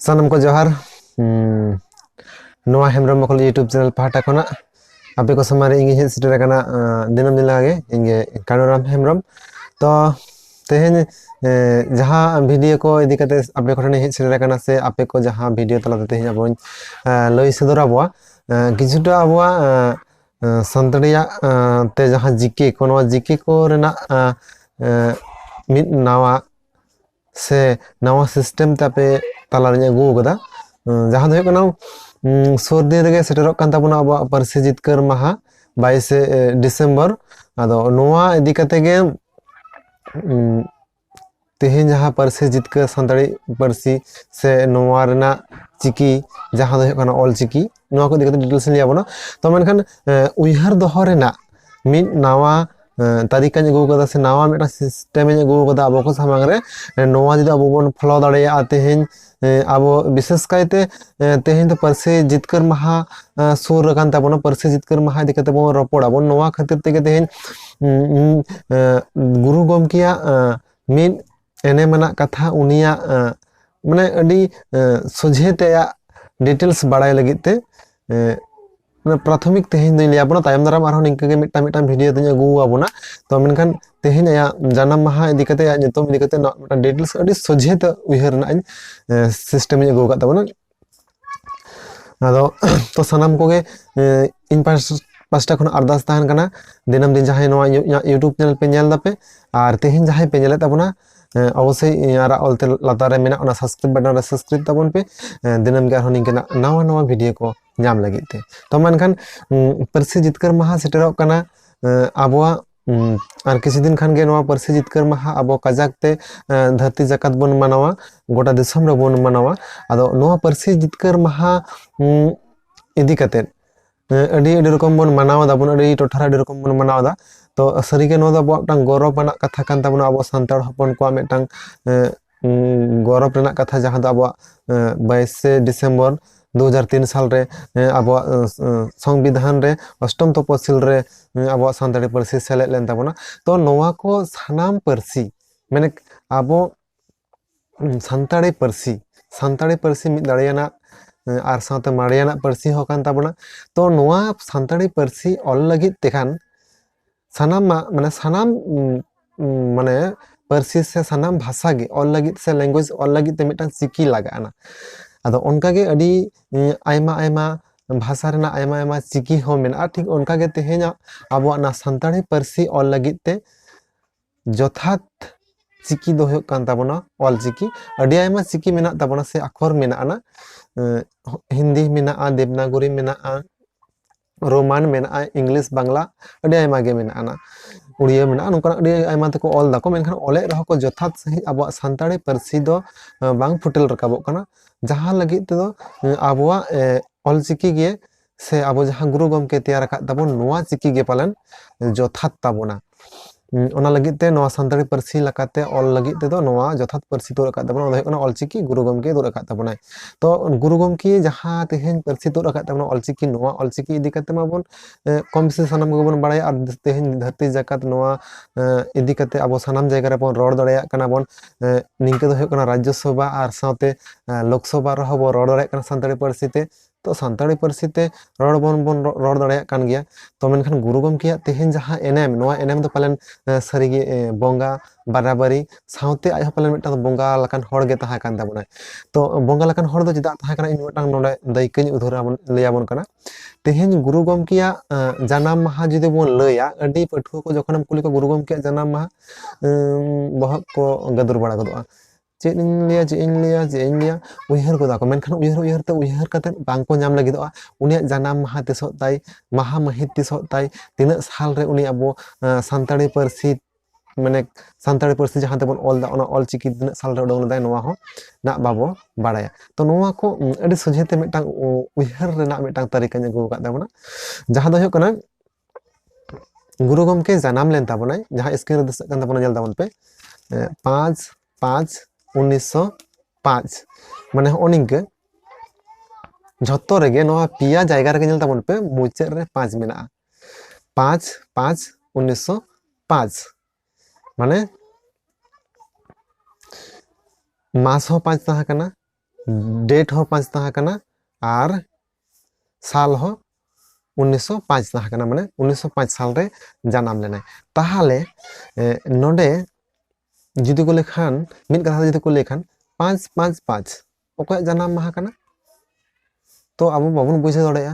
ᱥᱟᱱᱟᱢ ᱠᱚ ᱡᱚᱦᱟᱨ ᱱᱚᱣᱟ ᱦᱮᱢᱵᱨᱚᱢ ᱢᱚᱠᱚᱞ ᱭᱩᱴᱩᱵᱽ ᱪᱮᱱᱮᱞ ᱯᱟᱦᱴᱟ ᱠᱷᱚᱱᱟᱜ ᱟᱯᱮ ᱠᱚ ᱥᱟᱢᱟᱝ ᱨᱮ ᱤᱧ ᱦᱮᱡ ᱥᱮᱴᱮᱨ ᱟᱠᱟᱱᱟ ᱫᱤᱱᱟᱹᱢ ᱫᱤᱱ ᱞᱮᱠᱟᱜᱮ ᱤᱧ ᱜᱮ ᱠᱟᱱᱩᱨᱟᱢ ᱦᱮᱢᱵᱨᱚᱢ ᱛᱚ ᱛᱮᱦᱮᱧ ᱡᱟᱦᱟᱸ ᱵᱷᱤᱰᱤᱭᱳ ᱠᱚ ᱤᱫᱤ ᱠᱟᱛᱮ ᱟᱯᱮ ᱠᱚᱴᱷᱮᱱ ᱦᱮᱡ ᱥᱮᱴᱮᱨ ᱟᱠᱟᱱᱟ ᱥᱮ ᱟᱯᱮ ᱠᱚ ᱡᱟᱦᱟᱸ ᱵᱷᱤᱰᱤᱭᱳ ᱛᱟᱞᱟᱛᱮ ᱛᱮᱦᱮᱧ ᱟᱵᱚᱧ ᱞᱟᱹᱭ ᱥᱚᱫᱚᱨ ᱟᱵᱚᱣᱟ ᱠᱤᱪᱷᱩᱴᱟ ᱟᱵᱚᱣᱟᱜ ᱟᱸ, ᱥᱟᱱᱛᱟᱲᱤᱭᱟᱜ ᱟᱸ, ᱛᱮ ᱡᱟᱦᱟᱸ ᱡᱤᱠᱮ ᱠᱚ ᱱᱚᱣᱟ ᱡᱤᱠᱮ ᱠᱚ ᱨᱮᱱᱟᱜ ᱟᱸ, ᱟᱸ, ᱢᱤᱫ ᱱᱟᱣᱟ ᱥᱮ ᱱᱟᱣᱟ ᱥᱤᱥᱴᱮᱢ ᱛᱮ ᱟᱯᱮ ᱛᱟᱞᱟᱨᱤᱧ ᱟᱹᱜᱩ ᱟᱠᱟᱫᱟ ᱟᱸ, ᱡᱟᱦᱟᱸ ᱫᱚ ᱦᱩᱭᱩᱜ ᱠᱟᱱᱟ ᱩᱸ, ᱥᱩᱨ ᱫᱤᱱ ᱨᱮᱜᱮ ᱥᱮᱴᱮᱨᱚᱜ ᱠᱟᱱ ᱛᱟᱵᱚᱱᱟ ᱟᱵᱚᱣᱟᱜ ᱯᱟᱹᱨᱥᱤ ᱡᱤᱛᱠᱟᱹᱨ ᱢᱟᱦᱟ ᱵᱟᱭᱤᱥᱮ ᱰᱤᱥᱮᱢᱵᱚᱨ ᱟᱫᱚ ᱱᱚᱣᱟ ᱤᱫᱤ ᱠᱟᱛᱮ ᱜᱮ ᱩᱸ, ᱛᱮᱦᱮᱧ ᱡᱟᱦᱟᱸ ᱯᱟᱹᱨᱥᱤ ᱡᱤᱛᱠᱟᱹᱨ ᱥᱟᱱᱛᱟᱲᱤ ᱯᱟᱹᱨᱥᱤ ᱥᱮ ᱱᱚᱣᱟ ᱨᱮᱱᱟᱜ ᱪᱤᱠᱤ ᱡᱟᱦᱟᱸ ᱫᱚ ᱦᱩᱭᱩᱜ ᱠᱟᱱᱟ ᱚᱞ ᱪᱤᱠᱤ ᱱᱚᱣᱟ ᱠᱚ ᱤᱫᱤ ᱠᱟᱛᱮ ᱰᱤᱴᱮᱞᱥ ᱤᱧ ᱞᱟᱹᱭ ᱟᱵᱚᱱᱟ ᱛᱚ ᱢᱮᱱᱠᱷᱟᱱ ᱩᱭᱦᱟᱹᱨ ᱫᱚᱦᱚ ᱨᱮᱱᱟᱜ ᱢᱤᱫ ᱱᱟᱣᱟ ᱛᱟᱹᱨᱤᱠᱟᱧ ᱟᱹᱜᱩ ᱠᱟᱫᱟ ᱥᱮ ᱱᱟᱣᱟ ᱢᱤᱫᱴᱟᱝ ᱥᱤᱥᱴᱮᱢᱤᱧ ᱟᱹᱜᱩ ᱠᱟᱫᱟ ᱟᱵᱚ ᱠᱚ ᱥᱟᱢᱟᱝ ᱨᱮ ᱱᱚᱣᱟ ᱡᱩᱫᱤ ᱟᱵᱚ ᱵᱚᱱ ᱯᱷᱳᱞᱳ ᱫᱟᱲᱮᱭᱟᱜᱼᱟ ᱛᱮᱦᱮᱧ ᱟᱵᱚ ᱵᱤᱥᱮᱥ ᱠᱟᱭᱛᱮ ᱛᱮᱦᱮᱧ ᱫᱚ ᱯᱟᱹᱨᱥᱤ ᱡᱤᱛᱠᱟᱹᱨ ᱢᱟᱦᱟ ᱥᱩᱨ ᱟᱠᱟᱱ ᱛᱟᱵᱚᱱᱟ ᱯᱟᱹᱨᱥᱤ ᱡᱤᱛᱠᱟᱹᱨ ᱢᱟᱦᱟ ᱤᱫᱤ ᱠᱟᱛᱮᱜ ᱵᱚᱱ ᱨᱚᱯᱚᱲᱟᱵᱚᱱ ᱱᱚᱣᱟ ᱠᱷᱟᱹᱛᱤᱨ ᱛᱮᱜᱮ ᱛᱮᱦᱮᱧ ᱜᱩᱨᱩ ᱜᱚᱢᱠᱮᱭᱟᱜ ᱢᱤᱫ ᱮᱱᱮᱢ ᱟᱱᱟᱜ ᱠᱟᱛᱷᱟ ᱩᱱᱤᱭᱟᱜ ᱢᱟᱱᱮ ᱟᱹᱰᱤ ᱥᱚᱡᱷᱮ ᱛᱮ ᱟᱭᱟᱜ ᱰᱤᱴᱮᱞᱥ ᱵᱟᱲᱟᱭ ᱞᱟᱹᱜᱤᱫ ᱛᱮ ᱯᱨᱟᱛᱷᱚᱢᱤᱠ ᱛᱮᱦᱮᱧ ᱫᱚᱧ ᱞᱟᱹᱭ ᱟᱵᱚᱱᱟ ᱛᱟᱭᱚᱢ ᱫᱟᱨᱟᱢ ᱟᱨᱦᱚᱸ ᱱᱤᱝᱠᱟᱹ ᱜᱮ ᱢᱤᱫᱴᱟᱝ ᱢᱤᱫᱴᱟᱝ ᱵᱷᱤᱰᱤᱭᱳ ᱫᱚᱧ ᱟᱹᱜᱩ ᱟᱵᱚᱱᱟ ᱛᱚ ᱢᱮᱱᱠᱷᱟᱱ ᱛᱮᱦᱮᱧ ᱟᱭᱟᱜ ᱡᱟᱱᱟᱢ ᱢᱟᱦᱟ ᱤᱫᱤ ᱠᱟᱛᱮ ᱟᱭᱟᱜ ᱧᱩᱛᱩᱢ ᱤᱫᱤ ᱠᱟᱛᱮ ᱱᱚᱣᱟ ᱢᱤᱫᱴᱟᱝ ᱰᱤᱴᱮᱞᱥ ᱟᱹᱰᱤ ᱥᱚᱡᱷᱮ ᱛᱮ ᱩᱭᱦᱟᱹᱨ ᱨᱮᱱᱟᱜ ᱤᱧ ᱥᱤᱥᱴᱮᱢ ᱤᱧ ᱟᱹᱜᱩ ᱟᱠᱟᱫ ᱛᱟᱵᱚᱱᱟ ᱟᱫᱚ ᱛᱚ ᱥᱟᱱᱟᱢ ᱠᱚᱜᱮ ᱤᱧ ᱯᱟᱥᱴᱟ ᱠᱷᱚᱱ ᱟᱨᱫᱟᱥ ᱛᱟᱦᱮᱱ ᱠᱟᱱᱟ ᱫᱤᱱᱟᱹᱢ ᱫᱤᱱ ᱡᱟᱦᱟᱸᱭ ᱱᱚᱣᱟ ᱤᱧᱟᱹᱜ ᱤᱭᱩᱴᱩᱵᱽ ᱪᱮᱱᱮᱞ ᱯᱮ ᱧᱮᱞ ᱫᱟᱯᱮ ᱟᱨ ᱛᱮᱦᱮᱧ ᱡᱟᱦᱟᱸᱭ ᱯᱮ ᱧᱮᱞᱮᱫ ᱛᱟᱵᱚᱱᱟ ᱚᱵᱚᱥᱥᱳᱭ ᱟᱨᱟᱜ ᱚᱞᱛᱮ ᱞᱟᱛᱟᱨ ᱨᱮ ᱢᱮᱱᱟᱜ ᱚᱱᱟ ᱥᱟᱵᱥᱠᱨᱟᱭᱤᱵᱽ ᱵᱟᱴᱚᱱ ᱨᱮ ᱥᱟᱵᱥᱠᱨᱟᱭᱤᱵᱽ ᱛᱟᱵᱚᱱ ᱯᱮ ᱫᱤᱱᱟᱹᱢ ᱜᱮ ᱟᱨᱦᱚᱸ ᱱᱤᱝᱠᱟᱱᱟᱜ ᱱᱟᱣᱟ ᱱᱟᱣᱟ ᱵᱷᱤᱰᱤᱭᱳ ᱠᱚ ᱧᱟᱢ ᱞᱟᱹᱜᱤᱫ ᱛᱮ ᱛᱚ ᱢᱮᱱᱠᱷᱟᱱ ᱯᱟᱹᱨᱥᱤ ᱡᱤᱛᱠᱟᱹᱨ ᱢᱟᱦᱟ ᱥᱮᱴᱮᱨᱚᱜ ᱠᱟᱱᱟ ᱟᱵᱚᱣᱟᱜ ᱟᱨ ᱠᱤᱪᱷᱩ ᱫᱤᱱ ᱠᱷᱟᱱᱜᱮ ᱱᱚᱣᱟ ᱯᱟᱹᱨᱥᱤ ᱡᱤᱛᱠᱟᱹᱨ ᱢᱟᱦᱟ ᱟᱵᱚ ᱠᱟᱡᱟᱠ ᱛᱮ ᱫᱷᱟᱹᱨᱛᱤ ᱡᱟᱠᱟᱛ ᱵᱚᱱ ᱢᱟᱱᱟᱣᱟ ᱜᱚᱴᱟ ᱫᱤᱥᱚᱢ ᱨᱮᱵᱚᱱ ᱢᱟᱱᱟᱣᱟ ᱟᱫᱚ ᱱᱚᱣᱟ ᱯᱟᱹᱨᱥᱤ ᱡᱤᱛᱠᱟᱹᱨ ᱢᱟᱦᱟ ᱤᱫᱤ ᱠᱟᱛᱮᱫ ᱟᱹᱰᱤ ᱟᱹᱰᱤ ᱨᱚᱠᱚᱢ ᱵᱚᱱ ᱢᱟᱱᱟᱣ ᱫᱟᱵᱚᱱ ᱟᱹᱰᱤ ᱴᱚᱴᱷᱟᱨᱮ ᱟᱹᱰᱤ ᱨᱚᱠᱚᱢ ᱵᱚᱱ ᱢᱟᱱᱟᱣ ᱫᱟ ᱛᱚ ᱥᱟᱹᱨᱤᱜᱮ ᱱᱚᱣᱟ ᱫᱚ ᱟᱵᱚᱣᱟᱜ ᱢᱤᱫᱴᱟᱝ ᱜᱚᱨᱚᱵᱽ ᱟᱱᱟᱜ ᱠᱟᱛᱷᱟ ᱠᱟᱱ ᱛᱟᱵᱚᱱᱟ ᱟᱵᱚ ᱥᱟᱱᱛᱟᱲ ᱦᱚᱯᱚᱱ ᱠᱚᱣᱟᱜ ᱢᱤᱫᱴᱟᱝ ᱜᱚᱨᱚᱵᱽ ᱨᱮᱱᱟᱜ ᱠᱟᱛᱷᱟ ᱡᱟᱦᱟᱸ ᱫᱚ ᱟᱵᱚᱣᱟᱜ ᱵᱟᱭᱤᱥᱮ ᱰᱤᱥᱮᱢᱵᱚᱨ ᱫᱩ ᱦᱟᱡᱟᱨ ᱛᱤᱱ ᱥᱟᱞ ᱨᱮ ᱟᱵᱚᱣᱟᱜ ᱥᱚᱝᱵᱤᱫᱷᱟᱱ ᱨᱮ ᱚᱥᱴᱚᱢ ᱛᱚᱯᱚᱥᱤᱞ ᱨᱮ ᱟᱵᱚᱣᱟᱜ ᱥᱟᱱᱛᱟᱲᱤ ᱯᱟᱹᱨᱥᱤ ᱥᱮᱞᱮᱫ ᱞᱮᱱ ᱛᱟᱵᱚᱱᱟ ᱛᱚ ᱱᱚᱣᱟ ᱠᱚ ᱥᱟᱱᱟᱢ ᱯᱟᱹᱨᱥᱤ ᱢᱟᱱᱮ ᱟᱵᱚ ᱥᱟᱱᱛᱟᱲᱤ ᱯᱟᱹᱨᱥᱤ ᱥᱟᱱᱛᱟᱲᱤ ᱯᱟᱹᱨᱥᱤ ᱢᱤᱫ ᱫᱟᱲᱮᱭᱟᱱᱟᱜ ᱟᱨ ᱥᱟᱶᱛᱮ ᱢᱟᱨᱮᱭᱟᱱᱟᱜ ᱯᱟᱹᱨᱥᱤ ᱦᱚᱸ ᱠᱟᱱ ᱛᱟᱵᱚᱱᱟ ᱛᱚ ᱱᱚᱣᱟ ᱥᱟᱱᱛᱟᱲᱤ ᱯᱟᱹᱨᱥᱤ ᱚᱞ ᱞᱟᱹᱜᱤᱫ ᱛᱮᱠᱷᱟᱱ ᱥᱟᱱᱟᱢᱟᱜ ᱢᱟᱱᱮ ᱥᱟᱱᱟᱢ ᱢᱟᱱᱮ ᱯᱟᱹᱨᱥᱤ ᱥᱮ ᱥᱟᱱᱟᱢ ᱵᱷᱟᱥᱟ ᱜᱮ ᱚᱞ ᱞᱟᱹᱜᱤᱫ ᱥᱮ ᱞᱮᱝᱜᱩᱭᱮᱡᱽ ᱚᱞ ᱞᱟᱹᱜᱤᱫ ᱛᱮ ᱢᱤᱫᱴᱟᱝ ᱪᱤᱠᱤ ᱞᱟᱜᱟᱜᱼᱟ ᱟᱫᱚ ᱚᱱᱠᱟᱜᱮ ᱟᱹᱰᱤ ᱟᱭᱢᱟ ᱟᱭᱢᱟ ᱵᱷᱟᱥᱟ ᱨᱮᱱᱟᱜ ᱟᱭᱢᱟ ᱟᱭᱢᱟ ᱪᱤᱠᱤ ᱦᱚᱸ ᱢᱮᱱᱟᱜᱼᱟ ᱴᱷᱤᱠ ᱚᱱᱠᱟᱜᱮ ᱛᱮᱦᱮᱧᱟᱜ ᱟᱵᱚᱣᱟᱜ ᱱᱚᱣᱟ ᱥᱟᱱᱛᱟᱲᱤ ᱯᱟᱹᱨᱥᱤ ᱚᱞ ᱞᱟᱹᱜᱤᱫ ᱛᱮ ᱡᱚᱛᱷᱟᱛ ᱪᱤᱠᱤ ᱫᱚ ᱦᱩᱭᱩᱜ ᱠᱟᱱ ᱛᱟᱵᱚᱱᱟ ᱚᱞ ᱪᱤᱠᱤ ᱟᱹᱰᱤ ᱟᱭᱢᱟ ᱪᱤᱠᱤ ᱢᱮᱱᱟᱜ ᱛᱟᱵᱚᱱᱟ ᱥᱮ ᱟᱠᱷᱚᱨ ᱢᱮᱱᱟᱜᱼᱟ ᱦᱤᱱᱫᱤ ᱢᱮᱱᱟᱜᱼᱟ ᱫᱮᱵᱽᱱᱟᱜᱚᱨᱤ ᱢᱮᱱᱟᱜᱼᱟ ᱨᱳᱢᱟᱱ ᱢᱮᱱᱟᱜᱼᱟ ᱤᱝᱞᱤᱥ ᱵᱟᱝᱞᱟ ᱟᱹᱰᱤ ᱟᱭᱢᱟ ᱜᱮ ᱢᱮᱱᱟᱜᱼᱟ ᱱᱟ ᱩᱲᱤᱭᱟᱹ ᱢᱮᱱᱟᱜᱼᱟ ᱱᱚᱝᱠᱟᱱᱟᱜ ᱟᱹᱰᱤ ᱟᱭᱢᱟ ᱛᱮᱠᱚ ᱚᱞ ᱫᱟᱠᱚ ᱢᱮᱱᱠᱷᱟᱱ ᱚᱞᱮᱫ ᱨᱮᱦᱚᱸ ᱠᱚ ᱡᱚᱛᱷᱟᱛ ᱥᱟᱺᱦᱤᱡ ᱟᱵᱚᱣᱟᱜ ᱥᱟᱱᱛᱟᱲᱤ ᱯᱟᱹᱨᱥᱤ ᱫᱚ ᱵᱟᱝ ᱯᱷᱩᱴᱮᱞ ᱨᱟᱠᱟᱵᱚᱜ ᱠᱟᱱᱟ ᱡᱟᱦᱟᱸ ᱞᱟᱹᱜᱤᱫ ᱛᱮᱫᱚ ᱟᱵᱚᱣᱟᱜ ᱚᱞ ᱪᱤᱠᱤ ᱜᱮ ᱥᱮ ᱟᱵᱚ ᱡᱟᱦᱟᱸ ᱜᱩᱨᱩ ᱜᱚᱢᱠᱮ ᱛᱮᱭᱟᱨ ᱟᱠᱟᱫ ᱛᱟᱵᱚᱱ ᱱᱚᱣᱟ ᱪᱤᱠᱤ ᱜᱮ ᱯᱟᱞᱮᱱ ᱡᱚᱛᱷᱟᱛ ᱛᱟᱵᱚᱱᱟ ᱦᱩᱸ, ᱚᱱᱟ ᱞᱟᱹᱜᱤᱫ ᱛᱮ ᱱᱚᱣᱟ ᱥᱟᱱᱛᱟᱲᱤ ᱯᱟᱹᱨᱥᱤ ᱞᱮᱠᱟᱛᱮ ᱚᱞ ᱞᱟᱹᱜᱤᱫ ᱛᱮᱫᱚ ᱱᱚᱣᱟ ᱡᱚᱛᱷᱟᱛ ᱯᱟᱹᱨᱥᱤ ᱫᱚ ᱨᱟᱠᱟᱵ ᱛᱟᱵᱚᱱᱟ ᱚᱱᱟ ᱫᱚ ᱦᱩᱭᱩᱜ ᱠᱟᱱᱟ ᱚᱞ ᱪᱤᱠᱤ ᱜᱩᱨᱩ ᱜᱚᱢᱠᱮ ᱫᱩᱲᱩᱵ ᱟᱠᱟᱫ ᱛᱟᱵᱚᱱᱟᱭ᱾ ᱛᱚ ᱜᱩᱨᱩ ᱜᱚᱝᱠᱮ ᱡᱟᱦᱟᱸ ᱛᱮᱦᱮᱧ ᱯᱟᱹᱨᱥᱤ ᱛᱩᱫ ᱟᱠᱟᱫ ᱛᱟᱵᱚᱱᱟ ᱚᱞ ᱪᱤᱠᱤ ᱱᱚᱣᱟ ᱚᱞ ᱪᱤᱠᱤ ᱤᱫᱤ ᱠᱟᱛᱮ ᱢᱟᱵᱚᱱ ᱮᱸ ᱠᱚᱢ ᱵᱮᱥᱤ ᱥᱟᱱᱟᱢ ᱠᱚᱜᱮ ᱵᱚᱱ ᱵᱟᱲᱟᱭᱟ ᱟᱨ ᱛᱮᱦᱮᱧ ᱫᱷᱟᱹᱨᱛᱤ ᱡᱟᱠᱟᱛ ᱱᱚᱣᱟ ᱮᱸ ᱤᱫᱤ ᱠᱟᱛᱮ ᱟᱵᱚ ᱥᱟᱱᱟᱢ ᱡᱟᱭᱜᱟ ᱨᱮᱵᱚᱱ ᱨᱚᱲ ᱫᱟᱲᱮᱭᱟᱜ ᱠᱟᱱᱟ ᱵᱚᱱ᱾ ᱮᱸ ᱱᱤᱝᱠᱟᱹ ᱫᱚ ᱦᱩᱭᱩᱜ ᱠᱟᱱᱟ ᱨᱟᱡᱽᱡᱚ ᱥᱚᱵᱷᱟ ᱟᱨ ᱥᱟᱶᱛᱮ ᱮᱸ ᱞᱳᱠ ᱥᱚᱵᱷᱟ ᱨᱮᱦᱚᱸ ᱵᱚᱱ ᱨᱚᱲ ᱫᱟᱲᱮᱭᱟᱜ ᱠᱟᱱᱟ ᱥᱟᱱᱛᱟᱲᱤ ᱯᱟᱹᱨᱥᱤ ᱛᱮ᱾ ᱛᱚ ᱥᱟᱱᱛᱟᱲᱤ ᱯᱟᱹᱨᱥᱤ ᱛᱮ ᱨᱚᱲ ᱵᱚᱱ ᱵᱚᱱ ᱨᱚᱲ ᱫᱟᱲᱮᱭᱟᱜ ᱠᱟᱱ ᱜᱮᱭᱟ ᱛᱚ ᱢᱮᱱᱠᱷᱟᱱ ᱜᱩᱨᱩ ᱜᱚᱢᱠᱮᱭᱟᱜ ᱛᱮᱦᱮᱧ ᱡᱟᱦᱟᱸ ᱮᱱᱮᱢ ᱱᱚᱣᱟ ᱮᱱᱮᱢ ᱫᱚ ᱯᱟᱞᱮᱱ ᱥᱟᱹᱨᱤᱜᱮ ᱵᱚᱸᱜᱟ ᱵᱟᱨᱟᱵᱟᱹᱨᱤ ᱥᱟᱶᱛᱮ ᱟᱡ ᱦᱚᱸ ᱯᱟᱞᱮᱱ ᱢᱤᱫᱴᱟᱝ ᱵᱚᱸᱜᱟ ᱞᱮᱠᱟᱱ ᱦᱚᱲ ᱜᱮ ᱛᱟᱦᱮᱸ ᱠᱟᱱ ᱛᱟᱵᱚᱱᱟᱭ ᱛᱚ ᱵᱚᱸᱜᱟ ᱞᱮᱠᱟᱱ ᱦᱚᱲ ᱫᱚ ᱪᱮᱫᱟᱜ ᱛᱟᱦᱮᱸ ᱠᱟᱱᱟ ᱤᱧ ᱢᱤᱫᱴᱟᱝ ᱱᱚᱰᱮ ᱫᱟᱹᱭᱠᱟᱹᱧ ᱩᱫᱷᱟᱹᱨ ᱟᱵᱚᱱ ᱞᱟᱹᱭ ᱟᱵᱚᱱ ᱠᱟᱱᱟ ᱛᱮᱦᱮᱧ ᱜᱩᱨᱩ ᱜᱚᱢᱠᱮᱭᱟᱜ ᱡᱟᱱᱟᱢ ᱢᱟᱦᱟ ᱡᱩᱫᱤ ᱵᱚᱱ ᱞᱟᱹᱭᱟ ᱟᱹᱰᱤ ᱯᱟᱹᱴᱷᱩᱣᱟᱹ ᱠᱚ ᱡᱚᱠᱷᱚᱱᱮᱢ ᱠᱩᱞᱤ ᱠᱚᱣᱟ ᱜᱩᱨᱩ ᱜᱚᱢᱠᱮᱭᱟᱜ ᱡᱟᱱᱟᱢ ᱢᱟᱦᱟ ᱵᱚᱦᱚᱜ ᱠᱚ ᱜᱟᱹᱫᱩᱨ ᱵᱟᱲᱟ ᱜᱚᱫᱚᱜᱼᱟ ᱪᱮᱫ ᱤᱧ ᱞᱟᱹᱭᱟ ᱪᱮᱫ ᱤᱧ ᱞᱟᱹᱭᱟ ᱪᱮᱫ ᱤᱧ ᱞᱟᱹᱭᱟ ᱩᱭᱦᱟᱹᱨ ᱜᱚᱫᱟ ᱠᱚ ᱢᱮᱱᱠᱷᱟᱱ ᱩᱭᱦᱟᱹᱨ ᱩᱭᱦᱟᱹᱨ ᱛᱮ ᱩᱭᱦᱟᱹᱨ ᱠᱟᱛᱮᱫ ᱵᱟᱝᱠᱚ ᱧᱟᱢ ᱞᱟᱹᱜᱤᱫᱚᱜᱼᱟ ᱩᱱᱤᱭᱟᱜ ᱡᱟᱱᱟᱢ ᱢᱟᱦᱟ ᱛᱤᱥᱚᱜ ᱛᱟᱭ ᱢᱟᱦᱟ ᱢᱟᱹᱦᱤᱛ ᱛᱤᱥᱚᱜ ᱛᱟᱭ ᱛᱤᱱᱟᱹᱜ ᱥᱟᱞᱨᱮ ᱩᱱᱤ ᱟᱵᱚ ᱥᱟᱱᱛᱟᱲᱤ ᱯᱟᱹᱨᱥᱤ ᱢᱟᱱᱮ ᱥᱟᱱᱛᱟᱲᱤ ᱯᱟᱹᱨᱥᱤ ᱡᱟᱦᱟᱸ ᱛᱮᱵᱚᱱ ᱚᱞ ᱮᱫᱟ ᱚᱱᱟ ᱚᱞ ᱪᱤᱠᱤ ᱛᱤᱱᱟᱹᱜ ᱥᱟᱞᱨᱮ ᱩᱰᱩᱝ ᱞᱮᱫᱟᱭ ᱱᱚᱣᱟ ᱦᱚᱸ ᱱᱟᱜ ᱵᱟᱵᱚ ᱵᱟᱲᱟᱭᱟ ᱛᱚ ᱱᱚᱣᱟ ᱠᱚ ᱟᱹᱰᱤ ᱥᱚᱡᱷᱮᱛᱮ ᱢᱤᱫᱴᱟᱝ ᱩᱭᱦᱟᱹᱨ ᱨᱮᱱᱟᱜ ᱢᱤᱫᱴᱟᱝ ᱛᱟᱹᱨᱤᱠᱟᱧ ᱟᱹᱜᱩ ᱟᱠᱟᱫ ᱛᱟᱵᱚᱱᱟ ᱡᱟᱦᱟᱸ ᱫᱚ ᱦᱩᱭᱩᱜ ᱠᱟᱱᱟ ᱜᱩᱨᱩ ᱜᱚᱢᱠᱮ ᱡᱟᱱᱟᱢ ᱞᱮᱱ ᱛᱟᱵᱚᱱᱟᱭ ᱡᱟᱦᱟᱸ ᱥᱠᱨᱤᱱ ᱨᱮ ᱫᱤᱥᱟᱹᱜ ᱠᱟᱱ ᱛᱟᱵᱚᱱᱟ ᱧᱮᱞ ᱛᱟᱵᱚᱱ ᱯᱮ ᱯᱟᱸᱪ ᱯᱟᱸᱪ ᱩᱱᱤᱥᱥᱚ ᱯᱟᱸᱪ ᱢᱟᱱᱮ ᱦᱚᱸᱜᱼᱚ ᱱᱤᱝᱠᱟᱹ ᱡᱷᱚᱛᱚ ᱨᱮᱜᱮ ᱱᱚᱣᱟ ᱯᱮᱭᱟ ᱡᱟᱭᱜᱟ ᱨᱮᱜᱮ ᱧᱮᱞ ᱛᱟᱵᱚᱱ ᱯᱮ ᱢᱩᱪᱟᱹᱫ ᱨᱮ ᱯᱟᱸᱪ ᱢᱮᱱᱟᱜᱼᱟ ᱯᱟᱸᱪ ᱯᱟᱸᱪ ᱩᱱᱤᱥᱥᱚ ᱯᱟᱸᱪ ᱢᱟᱱᱮ ᱢᱟᱥ ᱦᱚᱸ ᱯᱟᱸᱪ ᱛᱟᱦᱮᱸ ᱠᱟᱱᱟ ᱰᱮᱴ ᱦᱚᱸ ᱯᱟᱸᱪ ᱛᱟᱦᱮᱸ ᱠᱟᱱᱟ ᱟᱨ ᱥᱟᱞ ᱦᱚᱸ ᱩᱱᱤᱥᱥᱚ ᱯᱟᱸᱪ ᱛᱟᱦᱮᱸ ᱠᱟᱱᱟ ᱢᱟᱱᱮ ᱩᱱᱤᱥᱥᱚ ᱯᱟᱸᱪ ᱥᱟᱞ ᱨᱮ ᱡᱟᱱᱟᱢ ᱞᱮᱱᱟᱭ ᱛᱟᱦᱚᱞᱮ ᱱᱚᱰᱮ ᱡᱩᱫᱤ ᱠᱚ ᱞᱮᱠᱷᱟᱱ ᱢᱤᱫ ᱠᱟᱛᱷᱟ ᱡᱩᱫᱤ ᱠᱚ ᱞᱮᱠᱷᱟᱱ ᱯᱟᱸᱪ ᱯᱟᱸᱪ ᱯᱟᱸᱪ ᱚᱠᱚᱭᱟᱜ ᱡᱟᱱᱟᱢ ᱢᱟᱦᱟ ᱠᱟᱱᱟ ᱛᱚ ᱟᱵᱚ ᱵᱟᱵᱚᱱ ᱵᱩᱡᱷᱟᱹᱣ ᱫᱟᱲᱮᱭᱟᱜᱼᱟ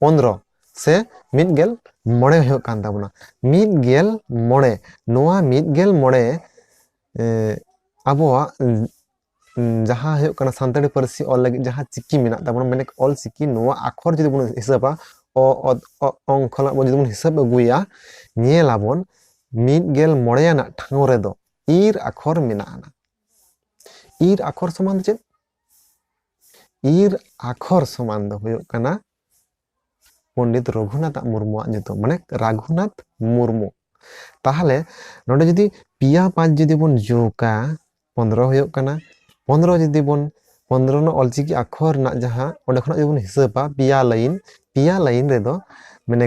ᱯᱚᱱᱨᱚ ᱥᱮ ᱢᱤᱫ ᱜᱮᱞ ᱢᱚᱬᱮ ᱦᱩᱭᱩᱜ ᱠᱟᱱ ᱛᱟᱵᱚᱱᱟ ᱢᱤᱫ ᱜᱮᱞ ᱢᱚᱬᱮ ᱱᱚᱣᱟ ᱢᱤᱫ ᱜᱮᱞ ᱢᱚᱬᱮ ᱟᱵᱚᱣᱟᱜ ᱡᱟᱦᱟᱸ ᱦᱩᱭᱩᱜ ᱠᱟᱱᱟ ᱥᱟᱱᱛᱟᱲᱤ ᱯᱟᱹᱨᱥᱤ ᱚᱞ ᱞᱟᱹᱜᱤᱫ ᱡᱟᱦᱟᱸ ᱪᱤᱠᱤ ᱢᱮᱱᱟᱜ ᱛᱟᱵᱚᱱᱟ ᱢᱟᱱᱮ ᱚᱞ ᱪᱤᱠᱤ ᱱᱚᱣᱟ ᱟᱠᱷᱚᱨ ᱡᱩᱫᱤ ᱵᱚᱱ ᱦᱤᱥᱟᱹᱵᱟ ᱚ ᱚᱝ ᱠᱷᱚᱱᱟᱜ ᱵᱚᱱ ᱡᱩᱫᱤ ᱵᱚᱱ ᱦᱤᱥᱟᱹᱵ ᱟᱹᱜᱩᱭᱟ ᱧᱮᱞ ᱟᱵᱚᱱ ᱢᱤᱫ ᱜᱮᱞ ᱢᱚᱬᱮ ᱟᱱᱟᱜ ᱴᱷᱟᱶ ᱨᱮᱫᱚ ᱤᱨ ᱟᱠᱷᱚᱨ ᱢᱮᱱᱟᱜᱼᱟ ᱤᱨ ᱟᱠᱷᱚᱨ ᱥᱚᱢᱟᱱ ᱪᱮᱫ ᱤᱨ ᱟᱠᱷᱚᱨ ᱥᱚᱢᱟᱱ ᱫᱚ ᱦᱩᱭᱩᱜ ᱠᱟᱱᱟ ᱯᱚᱱᱰᱤᱛ ᱨᱚᱜᱷᱩᱱᱟᱛᱷ ᱢᱩᱨᱢᱩᱣᱟᱜ ᱧᱩᱛᱩᱢ ᱢᱟᱱᱮ ᱨᱟᱜᱷᱩᱱᱟᱛᱷ ᱢᱩᱨᱢᱩ ᱛᱟᱦᱚᱞᱮ ᱱᱚᱰᱮ ᱡᱩᱫᱤ ᱯᱮᱭᱟ ᱯᱟᱸᱪ ᱡᱩᱫᱤ ᱵᱚᱱ ᱡᱳᱜᱟ ᱯᱚᱱᱨᱚ ᱦᱩᱭᱩᱜ ᱠᱟᱱᱟ ᱯᱚᱱᱨᱚ ᱡᱩᱫᱤ ᱵᱚᱱ ᱯᱚᱱᱨᱚ ᱨᱮᱱᱟᱜ ᱚᱞᱪᱤᱠᱤ ᱟᱠᱷᱚᱨ ᱨᱮᱱᱟᱜ ᱡᱟᱦᱟᱸ ᱚᱸᱰᱮ ᱠᱷᱚᱱᱟᱜ ᱡᱩᱫᱤ ᱵᱚᱱ ᱦᱤᱥᱟᱹᱵᱟ ᱯᱮᱭᱟ ᱞᱟᱭᱤᱱ ᱯᱮᱭᱟ ᱞᱟᱭᱤᱱ ᱨᱮᱫᱚ ᱢᱟᱱᱮ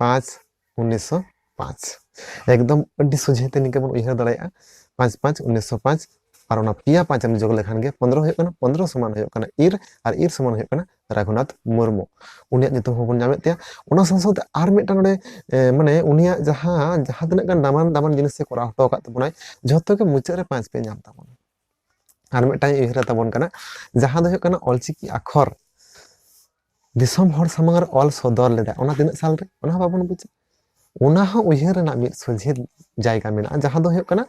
ᱯᱟᱸᱪ ᱩᱱᱤᱥᱥᱚ ᱯᱟᱸᱪ ᱮᱠᱫᱚᱢ ᱟᱹᱰᱤ ᱥᱚᱡᱷᱮᱛᱮ ᱱᱤᱝᱠᱟᱹ ᱵᱚᱱ ᱩᱭᱦᱟᱹᱨ ᱫᱟᱲᱮᱭᱟᱜᱼᱟ ᱯᱟᱸᱪ ᱯᱟᱸᱪ ᱩᱱᱤᱥᱥᱚ ᱯᱟᱸᱪ ᱟᱨ ᱚᱱᱟ ᱯᱮᱭᱟ ᱯᱟᱸᱪ ᱮᱢ ᱡᱚᱜᱽ ᱞᱮᱠᱷᱟᱱ ᱜᱮ ᱯᱚᱱᱨᱚ ᱦᱩᱭᱩᱜ ᱠᱟᱱᱟ ᱯᱚᱱᱨᱚ ᱥᱚᱢᱟᱱ ᱦᱩᱭᱩᱜ ᱠᱟᱱᱟ ᱤᱨ ᱟᱨ ᱤᱨ ᱥᱚᱢᱟᱱ ᱦᱩᱭᱩᱜ ᱠᱟᱱᱟ ᱨᱟᱜᱷᱩᱱᱟᱛᱷ ᱢᱩᱨᱢᱩ ᱩᱱᱤᱭᱟᱜ ᱧᱩᱛᱩᱢ ᱦᱚᱸᱵᱚᱱ ᱧᱟᱢᱮᱫ ᱛᱟᱭᱟ ᱚᱱᱟ ᱥᱟᱶ ᱥᱟᱶᱛᱮ ᱟᱨ ᱢᱤᱫᱴᱟᱝ ᱱᱚᱰᱮ ᱢᱟᱱᱮ ᱩᱱᱤᱭᱟᱜ ᱡᱟᱦᱟᱸ ᱡᱟᱦᱟᱸ ᱛᱤᱱᱟᱹᱜ ᱜᱟᱱ ᱫᱟᱢᱟᱱ ᱫᱟᱢᱟᱱ ᱡᱤᱱᱤᱥ ᱮ ᱠᱚᱨᱟᱣ ᱦᱚᱴᱚ ᱟᱠᱟᱫ ᱛᱟᱵᱚᱱᱟᱭ ᱡᱷᱚᱛᱚ ᱜᱮ ᱢᱩᱪᱟᱹᱫ ᱨᱮ ᱯᱟᱸᱪ ᱯᱮ ᱧᱟᱢ ᱛᱟᱵᱚᱱᱟ ᱟᱨ ᱢᱤᱫᱴᱟᱝ ᱩᱭᱦᱟᱹᱨ ᱛᱟᱵᱚᱱ ᱠᱟᱱᱟ ᱡᱟᱦᱟᱸ ᱫᱚ ᱦᱩᱭᱩᱜ ᱠᱟᱱᱟ ᱚᱞᱪᱤᱠᱤ ᱟᱠᱷᱚᱨ ᱫᱤᱥᱚᱢ ᱦᱚᱲ ᱥᱟᱢᱟᱝ ᱨᱮ ᱚᱞ ᱥᱚᱫᱚᱨ ᱞᱮᱫᱟ ᱚᱱᱟ ᱛᱤᱱᱟᱹᱜ ᱥᱟᱞ ᱨᱮ ᱚᱱᱟ ᱦᱚᱸ ᱵᱟᱵᱚᱱ ᱵᱩᱡᱟ ᱚᱱᱟ ᱦᱚᱸ ᱩᱭᱦᱟᱹᱨ ᱨᱮᱱᱟᱜ ᱢᱤᱫ ᱥᱚᱡᱷᱮ ᱡᱟᱭᱜᱟ ᱢᱮᱱᱟᱜᱼᱟ ᱡᱟᱦᱟᱸ ᱫᱚ ᱦᱩᱭᱩᱜ ᱠᱟᱱᱟ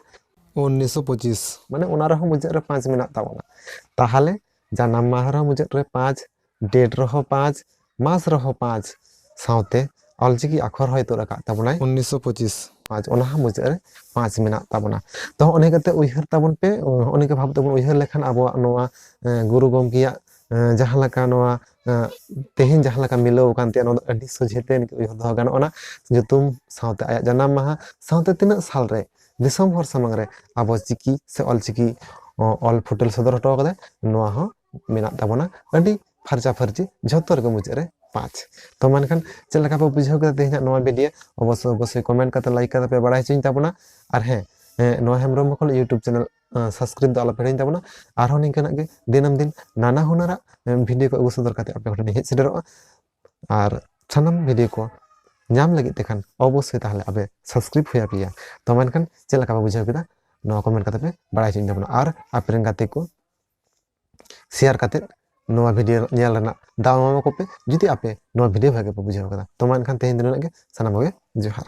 ᱩᱱᱤᱥᱥᱚ ᱯᱚᱸᱪᱤᱥ ᱢᱟᱱᱮ ᱚᱱᱟ ᱨᱮᱦᱚᱸ ᱢᱩᱪᱟᱹᱫ ᱨᱮ ᱯᱟᱸᱪ ᱢᱮᱱᱟᱜ ᱛᱟᱵᱚᱱᱟ ᱛᱟᱦᱚᱞᱮ ᱡᱟᱱᱟᱢ ᱢᱟᱦᱟ ᱨᱮᱦᱚᱸ ᱢᱩᱪᱟᱹᱫ ᱨᱮ ᱯᱟᱸᱪ ᱰᱮᱴ ᱨᱮᱦᱚᱸ ᱯᱟᱸᱪ ᱢᱟᱥ ᱨᱮᱦᱚᱸ ᱯᱟᱸᱪ ᱥᱟᱶᱛᱮ ᱚᱞᱪᱤᱠᱤ ᱟᱠᱷᱚᱨ ᱦᱚᱸᱭ ᱛᱩᱫ ᱟᱠᱟᱫ ᱛᱟᱵᱚᱱᱟᱭ ᱩᱱᱤᱥᱥᱚ ᱯᱚᱸᱪᱤᱥ ᱯᱟᱸᱪ ᱚᱱᱟ ᱦᱚᱸ ᱢᱩᱪᱟᱹᱫ ᱨᱮ ᱯᱟᱸᱪ ᱢᱮᱱᱟᱜ ᱛᱟᱵᱚᱱᱟ ᱛᱚ ᱦᱚᱸᱜᱼᱚ ᱱᱤᱭᱟᱹ ᱠᱟᱛᱮ ᱩᱭᱦᱟᱹᱨ ᱛᱟᱵᱚᱱ ᱯᱮ ᱦᱚᱸᱜᱼᱚ ᱱᱤᱝᱠᱟᱹ ᱵᱷᱟᱵ ᱛᱮᱵᱚᱱ ᱩᱭᱦᱟᱹᱨ ᱞᱮᱠᱷᱟᱱ ᱟᱵᱚᱣᱟᱜ ᱱᱚᱣᱟ ᱜᱩᱨᱩ ᱜᱚᱢᱠᱮᱭᱟᱜ ᱡᱟᱦᱟᱸ ᱞᱮᱠᱟ ᱱᱚᱣᱟ ᱛᱮᱦᱮᱧ ᱡᱟᱦᱟᱸ ᱞᱮᱠᱟ ᱢᱤᱞᱟᱹᱣ ᱟᱠᱟᱱ ᱛᱟᱭᱟ ᱱᱚᱣᱟ ᱫᱚ ᱟᱹᱰᱤ ᱥᱚᱡᱷᱮ ᱛᱮ ᱱᱤᱛᱚᱜ ᱩᱭᱦᱟᱹᱨ ᱫᱚᱦᱚ ᱜᱟᱱᱚᱜ ᱟᱱᱟ ᱧᱩᱛᱩᱢ ᱥᱟᱶᱛᱮ ᱟᱭᱟᱜ ᱡᱟᱱᱟᱢ ᱢᱟᱦᱟ ᱥᱟᱶᱛᱮ ᱛᱤᱱᱟᱹᱜ ᱥᱟᱞ ᱨᱮ ᱫᱤᱥᱚᱢ ᱦᱚᱲ ᱥᱟᱢᱟᱝ ᱨᱮ ᱟᱵᱚ ᱪᱤᱠᱤ ᱥᱮ ᱚᱞᱪᱤᱠᱤ ᱚᱞ ᱯᱷᱩᱴᱮᱞ ᱥᱚᱫᱚᱨ ᱦᱚᱴᱚ ᱠᱟᱫᱟᱭ ᱱᱚᱣᱟ ᱦᱚᱸ ᱢᱮᱱᱟᱜ ᱛᱟᱵᱚᱱᱟ ᱟᱹᱰᱤ ᱯᱷᱟᱨᱪᱟ ᱯᱷᱟᱨᱪᱤ ᱡᱷᱚᱛᱚ ᱨᱮᱜᱮ ᱢᱩᱪᱟᱹᱫ ᱨᱮ ᱯᱟᱸᱪ ᱛᱚ ᱢᱮᱱᱠᱷᱟᱱ ᱪᱮᱫ ᱞᱮᱠᱟ ᱯᱮ ᱵᱩᱡᱷᱟᱹᱣ ᱠᱮᱫᱟ ᱛᱮᱦᱮᱧᱟᱜ ᱱᱚᱣᱟ ᱵᱷᱤᱰᱤᱭᱳ ᱚᱵᱚᱥᱥᱳᱭ ᱚᱵᱚᱥᱥᱳᱭ ᱠᱚᱢᱮᱱᱴ ᱠᱟᱛᱮ ᱞᱟᱭᱤᱠ ᱠᱟᱛᱮ ᱯᱮ ᱵᱟᱲᱟᱭ ᱦᱚᱪᱚᱧ ᱛᱟᱵᱚᱱᱟ ᱟᱨ ᱦᱮᱸ ᱱᱚᱣᱟ ᱦᱮᱢᱵᱨᱚᱢ ᱢᱚᱠᱚᱞ ᱤᱭᱩᱴᱩᱵᱽ ᱪᱮᱱᱮᱞ ᱥᱟᱵᱥᱠᱨᱟᱭᱤᱵ ᱫᱚ ᱟᱞᱚᱯᱮ ᱦᱤᱲᱤᱧ ᱛᱟᱵᱚᱱᱟ ᱟᱨᱦᱚᱸ ᱱᱤᱝᱠᱟᱹᱱᱟᱜ ᱜᱮ ᱫᱤᱱᱟᱹᱢ ᱫᱤᱱ ᱱᱟᱱᱟ ᱦᱩᱱᱟᱹᱨᱟᱜ ᱵᱷᱤᱰᱤᱭᱳ ᱠᱚ ᱟᱹᱜᱩ ᱥᱚᱫᱚᱨ ᱠᱟᱛᱮ ᱟᱯᱮ ᱠᱚᱴᱷᱮᱱ ᱦᱮᱡ ᱥᱮᱴᱮᱨᱚᱜᱼᱟ ᱟᱨ ᱥᱟᱱᱟᱢ ᱵᱷᱤᱰᱤᱭᱳ ᱠᱚ ᱧᱟᱢ ᱞᱟᱹᱜᱤᱫ ᱛᱮᱠᱷᱟᱱ ᱚᱵᱚᱥᱥᱳᱭ ᱛᱟᱦᱚᱞᱮ ᱟᱯᱮ ᱥᱟᱵᱥᱠᱨᱟᱭᱤᱵ ᱦᱩᱭ ᱟᱯᱮᱭᱟ ᱛᱚ ᱢᱮᱱᱠᱷᱟᱱ ᱪᱮᱫ ᱞᱮᱠᱟ ᱯᱮ ᱵᱩᱡᱷᱟᱹᱣ ᱠᱮᱫᱟ ᱱᱚᱣᱟ ᱠᱚᱢᱮᱱᱴ ᱠᱟᱛᱮ ᱯᱮ ᱵᱟᱲᱟᱭ ᱦᱚᱪᱚᱧ ᱛᱟᱵᱚᱱᱟ ᱟᱨ ᱟᱯᱮ ᱨᱮᱱ ᱜᱟᱛᱮ ᱠᱚ ᱥᱮᱭᱟᱨ ᱠᱟᱛᱮ ᱱᱚᱣᱟ ᱵᱷᱤᱰᱤᱭᱳ ᱧᱮᱞ ᱨᱮᱱᱟᱜ ᱫᱟᱣ ᱮᱢᱟ ᱠᱚᱯᱮ ᱡᱩᱫᱤ ᱟᱯᱮ ᱱᱚᱣᱟ ᱵᱷᱤᱰᱤᱭᱳ ᱵᱷᱟᱜᱮ ᱯᱮ ᱵᱩᱡᱷᱟᱹᱣ ᱠᱟᱫᱟ ᱛᱚ ᱢᱟ ᱮᱱᱠᱷᱟᱱ ᱛᱮᱦᱮᱧ ᱫᱚ ᱱᱩᱱᱟᱹᱜ ᱜᱮ ᱥᱟᱱᱟᱢ ᱠᱚᱜᱮ ᱡᱚᱦᱟᱨ